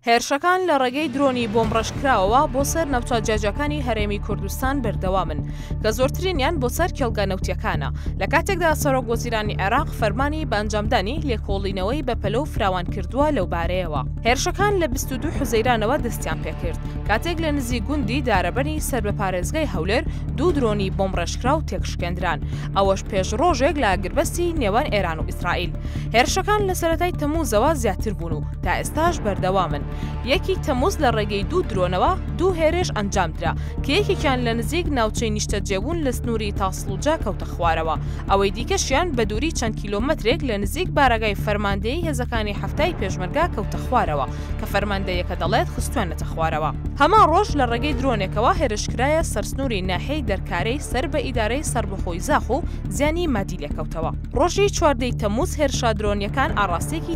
هێرشەکان لە ڕێگەی درۆنی بۆمبڕێژکراوەوە بۆ سەر نەوتە جیاجیاکانی هەرێمی کوردستان بەردەوامن کە زۆرترینیان بۆ سەر کێڵگە نەوتییەکانە لە کاتێکدا سەرۆک وەزیرانی عێراق فەرمانی بە ئەنجامدانی لێکۆڵینەوەی بەپەلە و فراوان کردووە لەو بارەیەوە هێرشەکان لە بیست و دوو حوزەیرانەوە دەستیان پێکرد کاتێک لە نزیک گوندی دارەبەنی سەر بە پارێزگای هەولێر دوو درۆنی بۆمبڕێژکراو تێکشکێندران ئەوەش پێش ڕۆژێک لە ئاگربەستی نێوان ئێران و ئیسرائیل هێرشەکان لە سەرەتای تەمووزەوە زیاتر بوون و تا ئێستاش بەردەوامن. یەکی تەمووز لە ڕێگەی دوو درۆنەوە دوو هێرێش ئەنجامدرا کە یەکێکیان لە نزیک ناوچەی نیشتەجێبوون لە سنووری تاسڵوجە کەوتە خوارەوە، ئەوەی دیکەشیان بە دووری چەند کیلۆمەترێک لە نزیک بارەگای فەرماندەیی هێزەکانی حەفتای پێشمەرگە کەوتە خوارەوە کە فەرماندەیەکە دەڵێت خستویانەتە خوارەوە. هەمان ڕۆژ لە ڕێگەی درۆنێکەوە هێرشکرایە سەر سنووری ناحیەی دەرکارەی سەر بە ئیدارەی سەربەخۆی زاخ و زیانی مادی لێکەوتەوە. ڕۆژی چواردە ی تەمووز هێرشە درۆنییەکان ئاڕاستەیەکی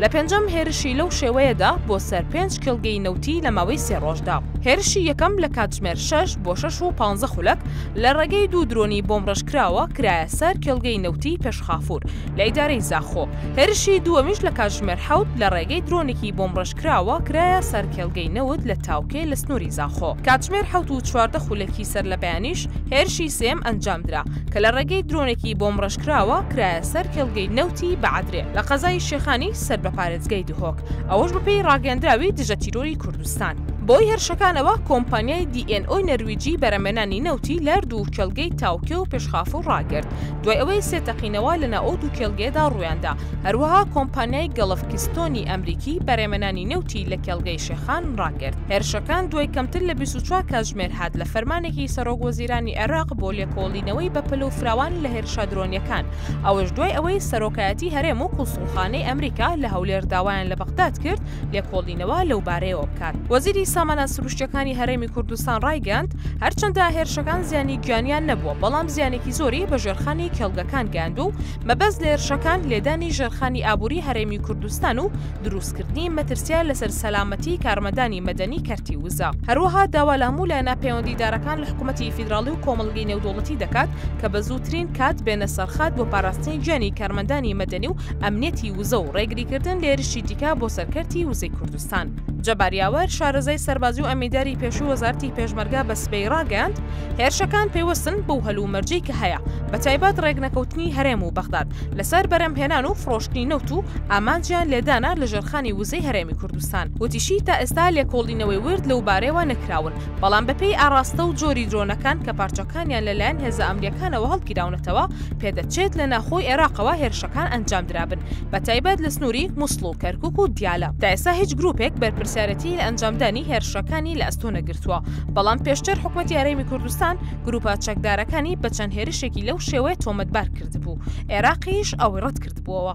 لە پێنجەم هێرشی لەو شێوەیەدا بۆ سەر پێنج کێڵگەی نەوتی لە ماوەی سێ ڕۆژدا. هێرشی یەکەم لە کاتژمێر شەش بۆ شەش و پانزە خولەک لە ڕێگەی دوو درۆنی بۆمڕێژکراوە کرایە سەر کێڵگەی نەوتی پێشخافور لە ئیدارەی زاخۆ. هێرشی دووەمیش لە کاتژمێر حەوت لە ڕێگەی درۆنێکی بۆمڕێژکراوە کرایە سەر کێڵگەی نەوت لە تاوکێ لە سنووری زاخۆ. کاتژمێر حەوت و چواردە خولەکی سەرلەبەیانیش هێرشی سێیەم ئەنجامدرا کە لە ڕێگەی درۆنێکی بۆمڕێژکراوە کرایە سەر کێڵگەی نەوتی پێشخافور لە ئیدارەی زاخۆ. کراوە کرایە سەر کێڵگەی نەوتی بەعەدرێ لە قەزای شێخانی سەر بە پارێزگای دهۆک، ئەوەش بەپێی ڕاگەیەندراوی دژە تیرۆری کوردستان. بەهۆی هێرشەکانەوە کۆمپانیای دی ئێن ئۆی نەرویجی بەرهەمێنانی نەوتی لە دوو کێڵگەی تاوکێ و پێشخافو ڕاگرت، دوای ئەوەی سێ تەقینەوە لە ناو ئەو دوو کێڵگەیەدا ڕوویاندا، هەروەها کۆمپانیای گەڵف کیستۆنی ئەمریکی بەرهەمێنانی نەوتی لە کێڵگەی شێخان ڕاگرت. هێرشەکان دوای کەمتر لە بیست و چوار کاتژمێر هات لە فەرمانێکی سەرۆک وەزیرانی عێراق بۆ لێکۆڵینەوەی ڕاستەوخۆتێکەڵکردنەوەی بەپەلە و فراوانی لە هێرشە درۆنییەکان، ئەوەش دوای ئەوەی سەرۆکایەتی هەرێم و کونسوڵخانەی ئەمریکا لە هەولێر داوایان لە بەغداد کرد لێکۆڵینەوە لەوبارەیەوە بکات. وەزیری سامانە سروشتییەکانی هەرێمی کوردستان ڕایگەیاند، هەرچەندە هێرشەکان زیانی گیانییان نەبووە، بەڵام زیانێکی زۆری بە ژێرخانی کێڵگەکان گەیاندووە و مەبەست لە هێرشەکان لێدانی ژێرخانی ئابووری هەرێمی کوردستان و دروستکردنی مەترسییە لەسەر سەلامەتی کارمەندانی مەدەنی کەرتی وزە، هەروەها داوا لە هەموو لایەنە پەیوەندیدارەکان لە حکوومەتی فیدراڵی و کۆمەڵگەی نێودەوڵەتی دەکات کە بە زووترین کات بێنە سەرخات بۆ پاراستنی گیانی کارمەندانی مەدەنی و ئەمنیەتی وزە و ڕێگریکردن لە هێرشی دیکە بۆ سەر کەرتی وزەی کوردستان. کوردستان. جەبار یاوەر، شارەزای سەربازی و ئەمینداری پێشووی وەزارەتی پێشمەرگە بە سبەی ڕاگەیاند، هێرشەکان پەیوەستن بەو هەلومەرجەی کە هەیە، بەتایبەت ڕێکنەکەوتنی هەرێم و بەغداد لەسەر بەرهەمهێنان و فڕۆشتنی نەوت و ئامانجیان لێدانە لە ژێرخانی وزەی هەرێمی کوردستان. وتیشی، تا ئێستا لێکۆڵینەوەی ورد لەوبارەیەوە نەکراون، بەڵام بەپێی ئاڕاستە و جۆری درۆنەکان کە پارچەکانیان لەلایەن هێزە ئەمنییەکانەوە هەڵگیراونەتەوە، پێدەچێت لە ناخۆی عێراقەوە هێرشەکان کان ئەنجام درابن بە تایبەت لە سنووری موسڵ و کەرکوک و دیالە تا ئێستا هیچ گروپێک بەرپرسیارەتی لە ئەنجامدانی هێرشەکانی لە ئەستۆ نەگرتووە بەڵام پێشتر حکومەتی یارێمی کوردستان گروپە چەکدارەکانی بە چەند هێرشێکی لەو شێوەیە تۆمەتبار کردبوو عێراقیش ئەوەی ڕەت کردبووەوە.